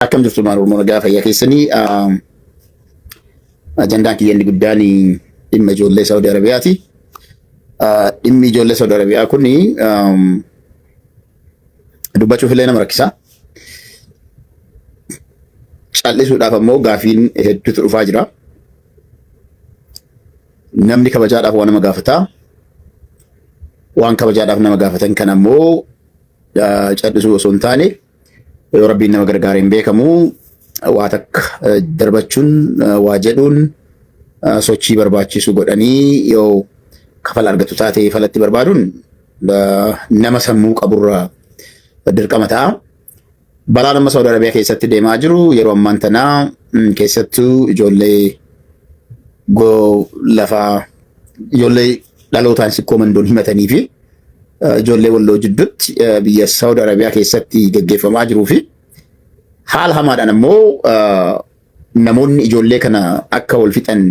Akkam jirtu ilmaan Oromoo nagaa fayyaa keessanii ajandaan kiyya inni guddaan dhimma ijoollee Saudi Arabiyaati. Dhimmi ijoollee Saudi Arabiyaa kun dubbachuuf illee nama rakkisa. Callisuudhaaf ammoo gaafiin hedduutu dhufaa jira. Namni kabajaadhaaf waan nama gaafata. Waan kabajaadhaaf nama gaafatan kan ammoo callisuu osoo hin taane Yoo rabbiin nama gargaare hin beekamu waa takka eh, darbachuun eh, waa jedhuun eh, sochii barbaachisu godhanii yoo kafala argatu taate falatti barbaaduun eh, nama sammuu qaburra dirqama ta'a. Balaan amma Saawud Arabiyaa keessatti deemaa jiru yeroo ammaan tanaa mm, keessattuu ijoollee go lafaa ijoollee dhalootaan sikkoo mandoon himatanii fi ijoollee walloo jidduutti biyya Saawud Arabiyaa keessatti gaggeeffamaa jiruu fi haala hamaadhaan ammoo namoonni ijoollee kana akka wal fixan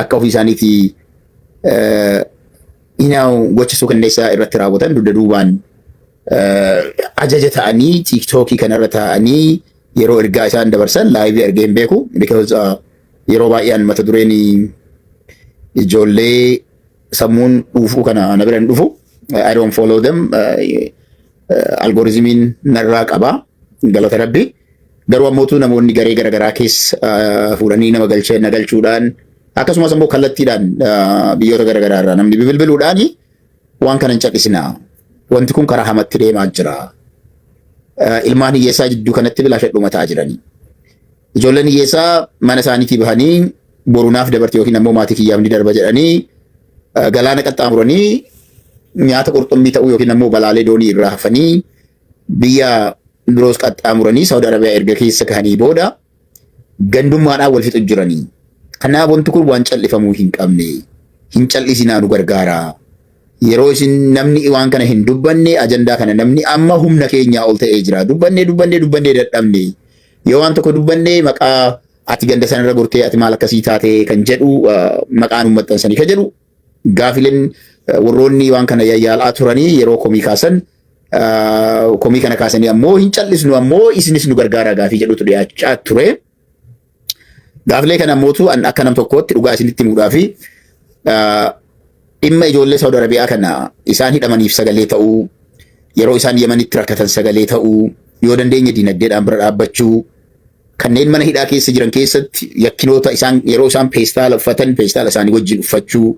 akka ofii isaaniitii hinaa'u gocha suukanneessaa irratti raawwatan dugda duubaan ajaja ta'anii tiiktookii kanarra taa'anii Yeroo ergaa isaan dabarsan laayivii argee hin beeku. Because uh, yeroo baay'ee an mata dureen ijoollee sammuun dhuufuu kana na bira hin dhufu. I don't follow them. Algorizimiin narraa qaba. Galata rabbi. Garuu ammootu namoonni garee garaagaraa keessa uh, fuudhanii nama galchee na galchuudhaan akkasumas ammoo kallattiidhaan uh, biyyoota garaagaraa irraa namni bibilbiluudhaani Waan kana hin cadhisinaa. Wanti kun karaa hamatti deemaa jira. Eh, Ilmaan hiyyeessaa jidduu kanatti bilaasha dhumataa jiranii. Ijoolleen hiyyeessaa mana isaaniitii bahanii borunaaf dabarti yookiin ammoo maatii kiyyaaf ni darba jedhanii eh, galaana qaxxaamuranii nyaata qurxummii ta'uu yookiin ammoo balaalee doonii irraa hafanii biyya biroos qaxxaamuranii Saawud Arabiyaa erga keessa gahanii booda Gandummaadhaan wal fixu jirani. Kanaaf wanti kun waan cal'ifamuu hin qabne. Hin cal'isinaa nu gargaara. Yeroo isin namni waan kana hin dubbanne ajandaa kana namni amma humna keenyaa ol ta'ee jira. Dubbannee dubbannee dubbannee dadhabne. Yoo waan tokko dubbanne maqaa ati ganda sanarra gortee ati maal akkasii taatee kan jedhu maqaa nu maxxansanii kan jedhu Gaafileen warroonni waan kana yayyaal'aa turanii yeroo komii kaasan komii kana kaasanii ammoo hin cal'isnu ammoo isinis nu gargaaraa gaafii jedhutu dhiyaachaa ture. Gaafilee kana ammootu an akka nam tokkootti dhugaa isinitti himuudhaa fi dhimma ijoollee Saawud Arabiyaa kana isaan hidhamaniif sagalee ta'uu yeroo isaan Yemanitti rakkatan sagalee ta'uu yoo dandeenye dinagdeedhaan bira dhaabbachuu Kanneen mana hidhaa keessa jiran keessatti yakkinoota isaan yeroo isaan peestaala uffatan peestaala isaanii wajjin uffachuu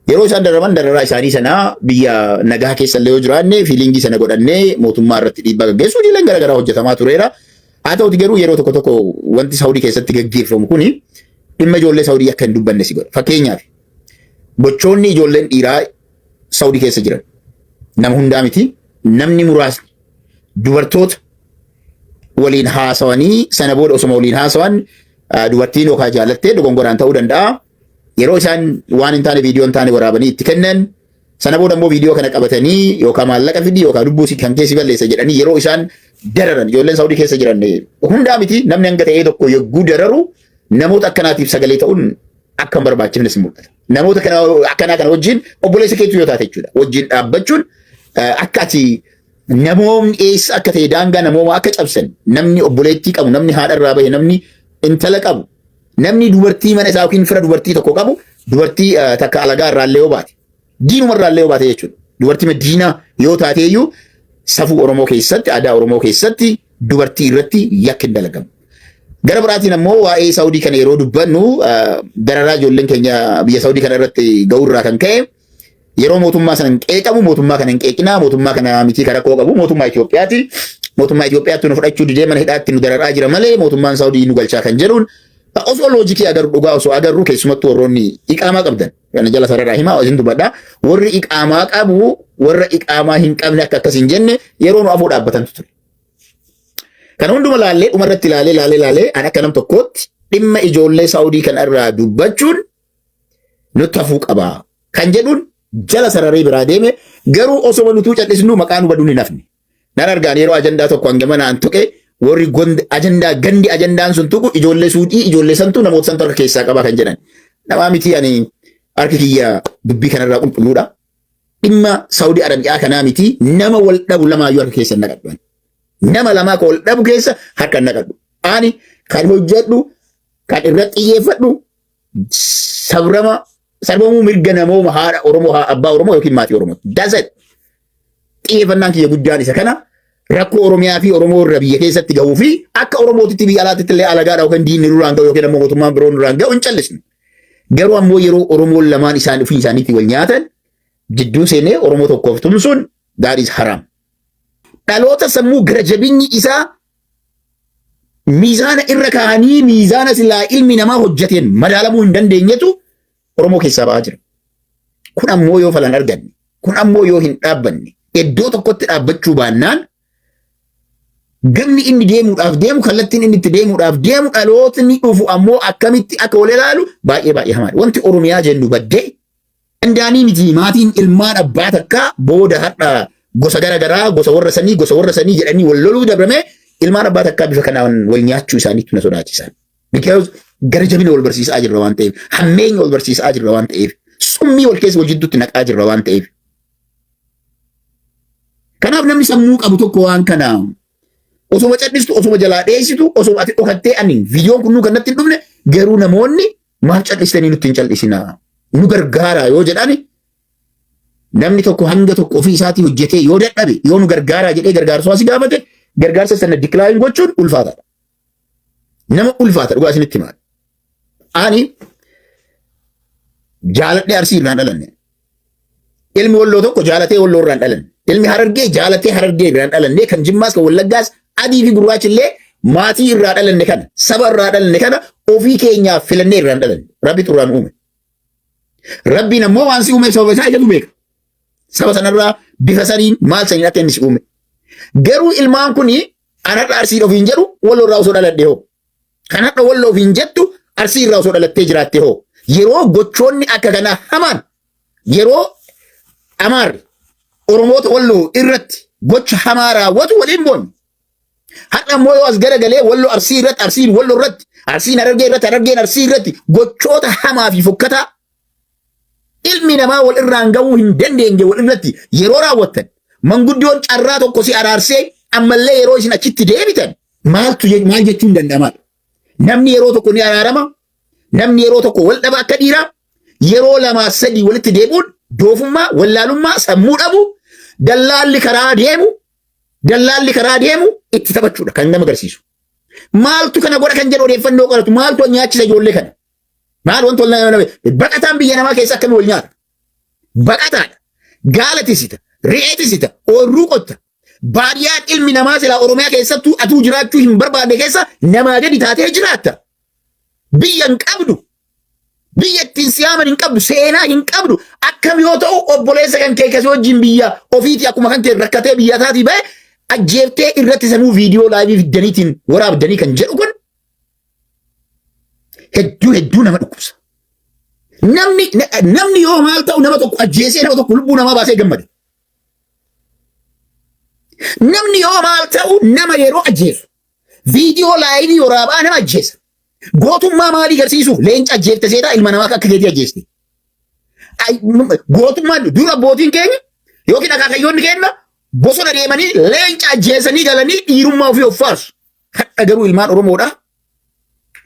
yeroo isaan daraman dararaa isaanii sanaa biyya nagaa keessa illee yoo jiraanne fiiliingii sana godhannee mootummaa irratti dhiibbaa gaggeessuu hojiileen garaagaraa hojjetamaa tureera. Haa ta'uti garuu yeroo tokko tokko wanti Saawudii keessatti gaggeeffamu kuni dhimma ijoollee Saawudii akka hin dubbanne si godha. Fakkeenyaaf gochoonni ijoolleen dhiiraa Saudi keessa jiran nama hundaa miti namni muraasni dubartoota waliin haasawanii sana booda osoma waliin haasawan ah, dubartiin yookaan jaalattee dogongoraan ta'uu danda'a. Yeroo isaan waan hin taane viidiyoo hin taane waraabanii itti kennan sana booda immoo viidiyoo kana qabatanii yookaan maallaqa fidi yookaan lubbuu si kan keessi balleessa jedhanii yeroo isaan dararan ijoolleen Saudi keessa jiran eh, hundaa miti namni hanga ta'ee tokko yogguu dararu namoota akkanaatiif sagalee ta'uun akka hin barbaachifnes mul'ata. Namoota kana akkanaa kana wajjin obboleessa keetu yoo taate jechuudha. Wajjin dhaabbachuun eh, akka ati namoomni eessa akka ta'e daangaa namoomaa akka cabsan namni obboleettii qabu namni haadha irraa bahe namni intala qabu namni dubartii mana isaa yookiin fira dubartii tokko qabu dubartii eh, takka alagaa irraa illee yoo baate diinuma irraa illee yoo baate jechuudha. Dubartii madiinaa yoo taate iyyuu safuu Oromoo keessatti aadaa Oromoo keessatti dubartii irratti yakki hin dalagamu. Gara biraatiin ammoo waa'ee Saawudii kana yeroo dubbannu dararaa ijoolleen keenya biyya Saawudii kana irratti ga'u irraa kan ka'e yeroo mootummaa sana hin qeeqamu mootummaa kana hin qeeqinaa mootummaa kana mitii kan rakkoo qabu mootummaa Itoophiyaati. Mootummaa Itoophiyaatti nu fudhachuu didee mana hidhaatti nu dararaa jira malee mootummaan Saawudii nu galchaa kan jedhuun osoo loojikii agarru dhugaa osoo agarru keessumattuu warroonni iqaamaa qabdan kana jala sarara himaa isin dubadha warri iqaamaa qabu warra iqaamaa hin qabne akka akkas hin jenne yeroo nu afoo dhaabbatantu ture. Kana hunduma laallee dhuma irratti laalee laalee laalee an akka nam tokkootti dhimma ijoollee Saawudii kan irraa dubbachuun nutti hafuu qaba kan jedhuun jala sararee biraa deeme garuu osoma nutuu callisnu maqaa nu baduun hin hafne. Nan argaan yeroo ajandaa tokko hanga mana an tuqe warri gond- ajandaa gandi ajandaan sun tuqu ijoollee suudii ijoollee santu namoota santu harka keessaa qaba kan jedhan. Namaa miti ani harki kiyya dubbii kanarraa qulqulluudha. dhimma Saudi Arabiyaa kanaa miti nama wal dhabu lamaayyuu harka keessa hin naqadhu. ani. Nama lamaa ka wal dhabu keessa harka hin naqadhu. Ani kan hojjedhu kan irratti xiyyeeffadhu sabrama sarbamuu mirga namooma haadha Oromoo haa abbaa Oromoo yookiin maatii Oromoo. That's it. Xiyyeeffannaan kiyya guddaan isa kana rakkoo Oromiyaa fi Oromoo irra biyya keessatti gahuu fi akka Oromootitti biyya alaatitti illee alagaadha yookiin diinni nurraan gahu yookiin ammoo mootummaan biroo nurraan gahu hin callisnu. Garuu ammoo yeroo Oromoon lamaan isaan ofii isaaniitii wal nyaatan jidduu seenee Oromoo tokkoof tumsuun gaariis haraam. Dhaloota sammuu gara jabinni isaa miizaana irra kaa'anii miizaana silaa ilmi namaa hojjeteen madaalamuu hin dandeenyetu Oromoo keessaa ba'aa jira. Kun ammoo yoo falan arganne, kun ammoo yoo hin dhaabbanne, iddoo tokkotti dhaabbachuu baannaan Ganni inni deemuudhaaf deemu kallattiin inni itti deemuudhaaf deemu dhalootni dhufu ammoo akkamitti akka wal ilaalu baay'ee baay'ee hamaadha. Wanti Oromiyaa jennu baddee dandaanii miti maatiin ilmaan abbaa takkaa booda har'a gosa gara garaa gosa warra sanii gosa warra sanii jedhanii wal loluu dabrame ilmaan abbaa takkaa bifa kanaan wal nyaachuu isaaniitu na sodaachisa. Because gara jabina wal barsiisaa jirra waan ta'eef hammeenya wal barsiisaa jirra waan ta'eef summii wal keessa wal jidduutti naqaa jirra waan ta'eef Kanaaf namni sammuu qabu tokko waan kana osoma cadhistu osoma jalaa dheessitu osoma ati dhokattee ani viidiyoon kun nu kannatti hin dhufne garuu namoonni maaf cadhistanii nutti hin cal'isinaa nu gargaaraa yoo jedhani namni tokko hanga tokko ofii isaatii hojjetee yoo dadhabe yoo nu gargaaraa jedhee gargaarsa si gaafate gargaarsa sana diklaayin gochuun ulfaataadha. Nama ulfaata dhugaa isinitti himaa. Ani jaaladhee arsii irraan dhalanne. Ilmi walloo tokko jaalatee walloo irraan dhalanne. Ilmi harargee jaalatee harargee irraan dhalanne kan jimmaas kan wallaggaas adii fi gurraachi illee maatii irraa dhalanne kana saba irraa dhalanne kana ofii keenyaaf filannee irraan dhalanne. Rabbi xurraan uume. Rabbiin ammoo waan si uumeef sababa isaa ijatu beeka. Saba sanarraa bifa saniin maal saniin akka inni si uume. Garuu ilmaan kun An har'a Arsiin ofiin jedhu Walloo irraa osoo dhaladhe hoo? Kan har'a Walloo ofiin jettu Arsii irraa osoo dhalattee jiraatte hoo? Yeroo gochoonni akka kanaa hamaan yeroo Amaarri Oromoota Walloo irratti gocha hamaa raawwatu waliin boonne. Har'a immoo yoo as garagalee Walloo Arsii irratti Arsiin Walloo irratti Arsiin Harargee irratti Harargeen Arsii irratti gochoota hamaa fi fokkataa ilmi namaa wal irraan ga'uu hin dandeenye wal irratti yeroo raawwattan manguddoon carraa tokko si araarsee ammallee yeroo isin achitti deebitan maaltu je- maal jechuun danda'amaadha. Namni yeroo tokko ni araarama, namni yeroo tokko wal dhaba akka dhiiraa, yeroo lamaa sadii walitti deebi'uun doofummaa, wallaalummaa, sammuu dhabu, dallaalli karaa deemu, dallaalli karaa deemu itti taphachuudha kan nama agarsiisu. Maaltu kana godha kan jedhu odeeffannoo qoratu, maaltu nyaachisa ijoollee kana? Maal wanti wal nama nama baqataan biyya namaa keessa akkamii wal nyaata? Baqataadha. Gaala tisita, re'ee tisita, oorruu qotta. Baadiyaan ilmi namaa silaa Oromiyaa keessattuu atuu jiraachuu hin barbaanne keessa namaa gadi taatee jiraatta. Biyya hin qabdu. Biyya ittiin siyaaman hin qabdu, seenaa hin qabdu. Akkam yoo ta'u obboleessa kan kee kasii wajjin biyya ofiitii akkuma kan kee rakkatee biyya isaatii ba'e ajjeeftee irratti sanuu viidiyoo laayivii fiddaniitiin waraabdanii kan jedhu kun Hedduu hedduu nama dhukkubsa. Namni namni yoo maal ta'u nama tokko ajjeesee nama tokko lubbuu namaa baasee gammada. Namni yoo maal ta'u nama yeroo ajjeesu viidiyoo laayivii waraabaa nama ajjeesa. Gootummaa maalii garsiisuuf leenca ajjeefte seetaa ilma namaa akka keetii ajjeesti. Gootummaan dura abbootiin keenya yookiin akaakayyoonni keenya bosona deemanii leenca ajjeesanii galanii dhiirummaa ofii of faarsu. Hadha garuu ilmaan Oromoodha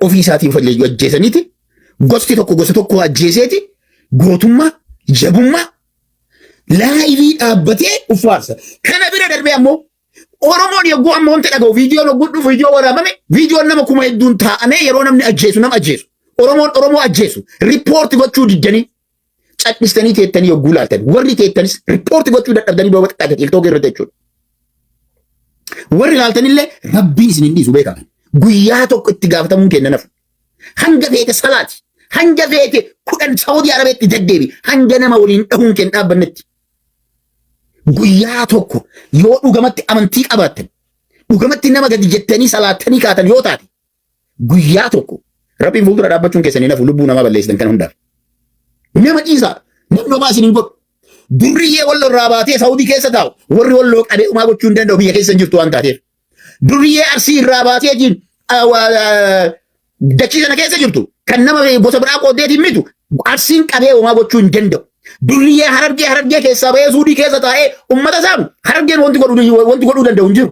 ofii isaatiin falleeyyuu ajjeesaniiti gosti tokko gosa tokko ajjeeseeti gootummaa jabummaa laayivii dhaabbatee uffaarsa. Kana bira darbee ammoo Oromoon yogguu ammoo wanti dhaga'u viidiyoon yogguu dhufu viidiyoo waraabame viidiyoon nama kuma hedduun taa'amee yeroo namni ajjeesu nama ajjeesu Oromoon Oromoo ajjeesu riippoorti gochuu diddanii Cadhistanii teettanii yogguu laaltan warri teettanis riippoorti gochuu dadhabdanii booba xiqqaate tiiktookii irratti jechuudha. Warri laaltanillee rabbiin isin hin dhiisu beekaman. Guyyaa tokko itti gaafatamuun kenna nafu. Hanga feete salaati. Hanga feete kudhan Saawudii Arabeetti deddeebi. Hanga nama waliin dhahuun kenna dhaabbannetti. Guyyaa tokko yoo dhugamatti amantii qabaattan dhugamatti nama gadi jettanii salaattanii kaatan yoo taate Guyyaa tokko rabbiin fuuldura dhaabbachuun keessan hin hafu lubbuu namaa balleessitan kan hundaaf. Nama ciisaa namni homaa isin hin godhu. Durriyyee wal irraa baatee Saawudii keessa taa'u warri wal loo qabee umaa gochuu hin danda'u biyya keessa hin jirtu waan taateef. Durriyyee arsii irraa baatee jiin dachii sana keessa jirtu kan nama gosa biraa qooddeetiin mitu arsiin qabee umaa gochuu hin danda'u. Durriyyee harargee harargee keessaa bahee suudii keessa taa'ee ummata saamu harargeen wanti godhuu danda'u hin jiru.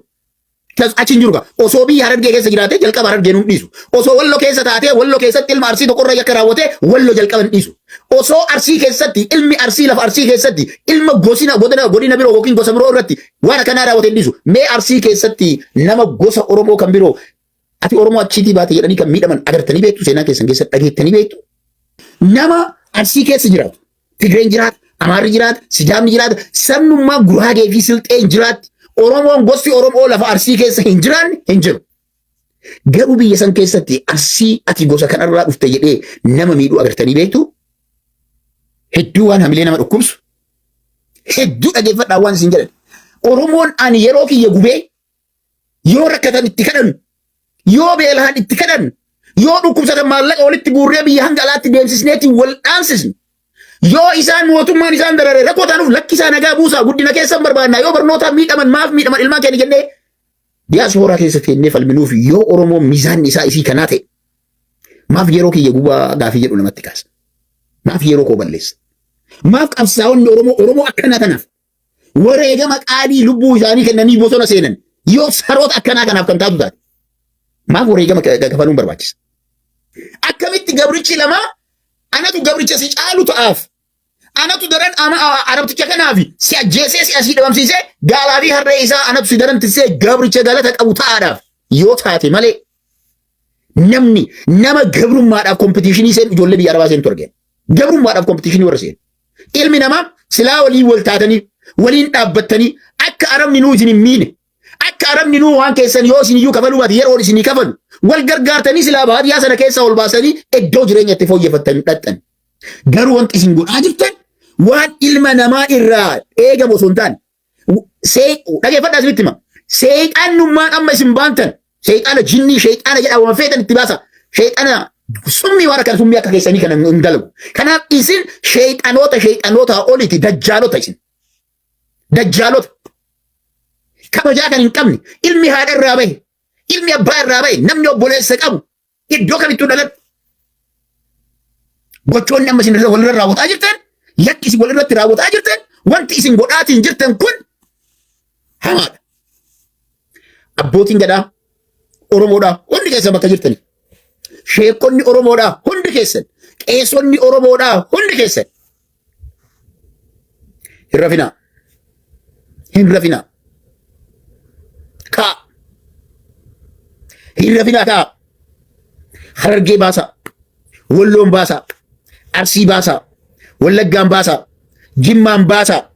Kas achi hin jiru gaa. Osoo biyya Harargee keessa jiraatee jalqaba Harargeen hin dhiisu. Osoo Wallo keessa taatee Wallo keessatti ilma Arsii tokkorra yakka raawwatee Wallo jalqaba hin dhiisu. Osoo Arsii keessatti ilmi Arsii lafa Arsii keessatti ilma gosina godina godina biroo yookiin gosa biroo irratti waan akkanaa raawwatee hin dhiisu. Mee Arsii keessatti nama gosa Oromoo kan biroo Ati Oromoo achiitii baate jedhanii kan miidhaman agartanii beektu seenaa keessan keessa dhageettanii beektu. Nama arsii keessa jiraatu. Tigreen jiraata, Amaarri jiraata, Sidaamni jiraata, sabnummaa Guraagee fi Silxeen jiraatti. Oromoon gosti Oromoo lafa arsii keessa hin jiraanne hin jiru. Garuu biyya san keessatti arsii ati gosa kanarraa dhufte jedhee nama miidhuu agartanii beektu. Hedduu waan hamilee nama dhukkubsu. Hedduu dhageeffadhaa waan isin jedhan. Oromoon ani yeroo kiyya gubee Yoo rakkatan itti kadhannu, yoo beelahan itti kadhannu, yoo dhukkubsatan maallaqa walitti guurree biyya hanga alaatti deemsisneetiin wal dhaansisnu, yoo isaan mootummaan isaan darare rakkoo taanuuf lakkisaa nagaa buusaa guddina keessan barbaannaa yoo barnootaan miidhaman maaf miidhaman ilmaan keenya jennee diyaasooraa keessa teennee falminuuf yoo Oromoo miizaanni isaa isii kanaa ta'e maaf yeroo kiyya gubaa gaafii jedhu namatti kaasa. Maaf yeroo koo balleessa. Maaf qabsaa'onni Oromoo Oromoo akkanaa kanaaf wareegama qaalii lubbuu isaanii kennanii bosona seenan yoo saroota akkanaa kanaaf kan taatu taate maaf wareegama ka- ka- kafaluun barbaachisa? Akkamitti gabrichi lamaa anatu gabricha si caalu ta'aaf anatu daran ama- a- arabticha kanaafi si ajjeesee si asii dhabamsiisee gaalaa fi harree isaa anatu si daran tissee gabricha galata qabu ta'aadhaaf yoo taate malee Namni nama gabrummaadhaaf kompitiishinii seenu ijoollee biyya arabaa seentu argeen. Gabrummaadhaaf kompitiishinii warra seenu. Ilmi namaa silaa waliin wal taatanii waliin dhaabbattanii akka arabni nuu isin hin miine akka arabni nuu waan keessan yoo isin iyyuu kafaluu baate yeroon isinii kafalu wal gargaartanii silaa baadiyyaa sana keessaa ol baasanii iddoo jireenya itti fooyyeffattan dhaqxan. Garuu wanti isin godhaa jirtan waan ilma namaa irraa eegamu osoo hin taane Dhageeffadhaa isinitti hima. Seexaannummaan amma isin baantan seexaana jinnii seexaana jedhaa waan feetan itti baasa. Seexaana summii waan akkana summii akka keessanii kana hin dalagu. Kanaaf isin seexanoota seexanoota oliiti dajjaalota isin. Dajjaalota. Kabajaa kan hin qabne ilmi haadha irraa bahe ilmi abbaa irraa bahe namni obboleessa qabu Iddoo kamittuu dhaladhu. Gochoonni amma isin walirra raawwataa jirtan, yakki isin walirratti raawwataa jirtan, wanti isin godhaatiin jirtan kun hamaadha. Abbootiin gadaa Oromoodhaa hundi keessan bakka jirtani. Sheekonni Oromoodhaa hundi keessan, qeesonni Oromoodhaa hundi keessan Hin rafinaa. Hin rafinaa. Kaa. Hin rafinaa kaa. Harargee baasaa. Walloon baasaa. Arsii baasaa. Wallaggaan baasaa. Jimmaan baasaa.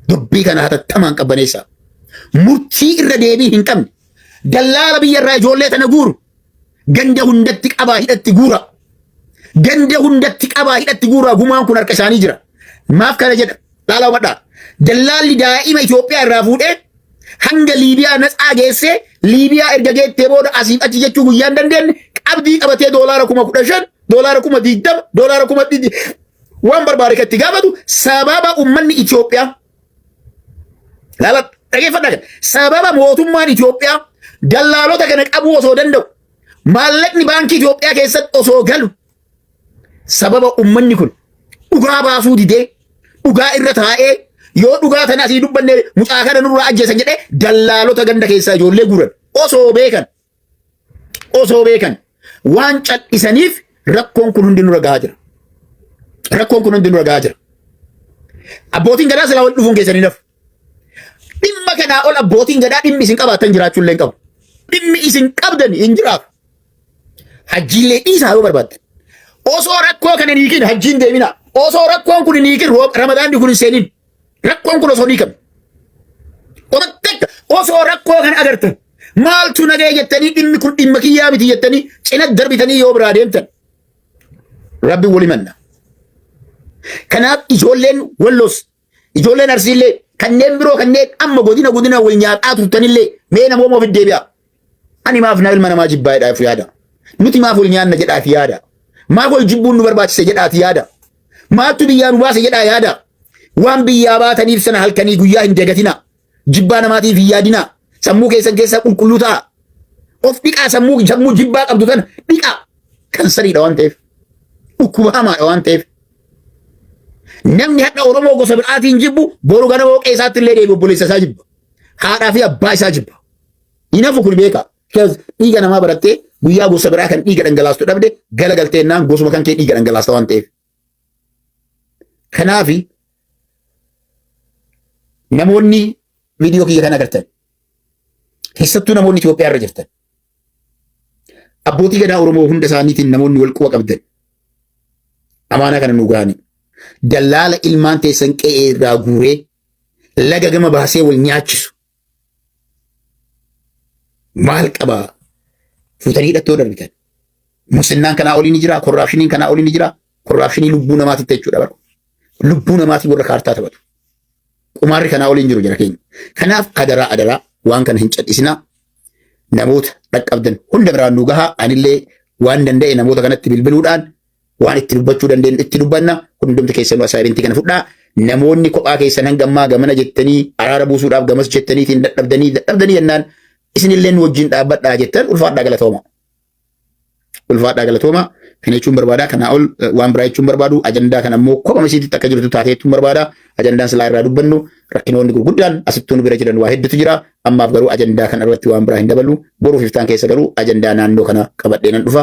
Dubbii kana hatattamaan qabbaneessaa. Murtii irra deebii hin qabne. Dallaala biyya irraa ijoollee tana guuru. Ganda hundatti qabaa hidhatti guura. Ganda hundatti qabaa hidhatti guura gumaan kun harka isaanii jira. Maaf kana jedha dhaala hubadhaa. Dallaalli daa'ima Itoophiyaa irraa fuudhee hanga Liibiyaa natsaa geessee Liibiyaa erga geettee booda asiif achi jechuu guyyaan dandeenye qabdii qabatee doolaara kuma kudha shan doolaara kuma digdama doolaara kuma dhibbi waan barbaade kan itti gaafatu sababa uummanni Itoophiyaa Laala dhageeffadhaa kana. Sababa mootummaan Itoophiyaa dallaalota kana qabuu osoo danda'u maallaqni baankii Itoophiyaa keessatti osoo galu sababa ummanni kun dhugaa baasuu didee dhugaa irra taa'ee yoo dhugaa tana asii dubbanne mucaa kana nurraa ajjeesan jedhee dallaalota ganda keessaa ijoollee guuran osoo beekan osoo beekan waan cal'isaniif rakkoon kun hundi nurra gahaa jira. Rakkoon kun hundi nurra gahaa jira. Abbootiin gadaa silaa wal dhufuun keessanii nafu. Dhimma kanaa ol abbootiin gadaa dhimmi isin qabaatan jiraachuu illee hin qabu. Dhimmi isin qabdan hin jiraatu. Hajjiillee dhiisaa yoo barbaaddan. Osoo rakkoo kana hin hiikin hajjiin deemina. Osoo rakkoon kun hin hiikin roob- ramadaanni kun hin seenin. Rakkoon kun osoo ni qabu. Osoo rakkoo kan agartan maaltu nagaya jettanii dhimmi kun dhimma kiyyaa miti jettanii cina darbitanii yoo biraa deemtan rabbi wali manna. Kanaaf ijoolleen walloos ijoolleen arsiillee kanneen biroo kanneen amma godina godina wal nyaataa turtanillee mee namooma ofi deebi'aa. Ani maaf na ilma namaa jibbaa jedhaa of yaada. Nuti maaf wal nyaanna jedhaa fi yaada. Maaf wal jibbuun nu barbaachise jedhaati yaada. Maaltu biyyaa nu baase jedhaa yaada. Waan biyyaa baataniif sana halkanii guyyaa hin dagatina. Jibbaa namaatiif hin yaadina. Sammuu keessan keessaa qulqulluu ta'a. Of dhiqaa sammuu sammuu jibbaa qabdu tana dhiqaa. Kansariidha waan ta'eef. Dhukkuba hamaadha waan ta'eef. Namni hadha Oromoo gosa biraatiin jibbu boru ganama waaqee isaatti illee deebi obboleessa isaa jibba. Haadhaa fi abbaa isaa jibba. Hin hafu kun beeka. Because dhiiga namaa barattee guyyaa gosa biraa kan dhiiga dhangalaastu dhabde gala galtee naan gosuma kan kee dhiiga dhangalaasta waan ta'eef. Kanaafi namoonni viidiyoo kiyya kan agartan keessattuu namoonni Itoophiyaa irra jirtan abbootii gadaa Oromoo hunda isaaniitiin namoonni wal quba qabdan amaanaa kana nu ga'anii dallaala ilmaan teessan qe'ee irraa guuree laga gama baasee wal nyaachisu Maal qabaa? Fuutanii hidhattoo darbitan. Muslinnaan kanaa olii ni jiraa? Korraapshiniin kanaa olii ni jiraa? Korraapshinii lubbuu namaatitti jechuudha bara. Lubbuu namaatii warra kaartaa taphatu. Qumaarri kanaa olii hin jiru jira keenya. Kanaaf adaraa adaraa waan kana hin cadhisinaa. Namoota dhaqqabdan hunda biraan nu gahaa. Anillee waan danda'e namoota kanatti bilbiluudhaan waan itti dubbachuu dandeenyu itti dubbanna hundumti keessanuu asaayimentii kana fudhaa namoonni kophaa keessan hanga ammaa gamana jettanii araara buusuudhaaf gamas jettaniitiin dadhabdanii dadhabdanii jennaan isinillee nu wajjin dhaabbadhaa jettan ulfaadhaa galatooma. Ulfaadhaa galatooma kana jechuun barbaadaa kanaa ol eh, waan biraa jechuun barbaadu ajandaa kana immoo kophaa isiititti akka jirtu taatee jechuun barbaada ajandaan silaa irraa dubbannu rakkinoonni gurguddaan asittuu nu bira jiran waa hedduutu jira ammaaf garuu ajandaa kana irratti waan biraa hin dabalu boruuf iftaan keessa garuu ajandaa naannoo kana qabadhee nan dhufa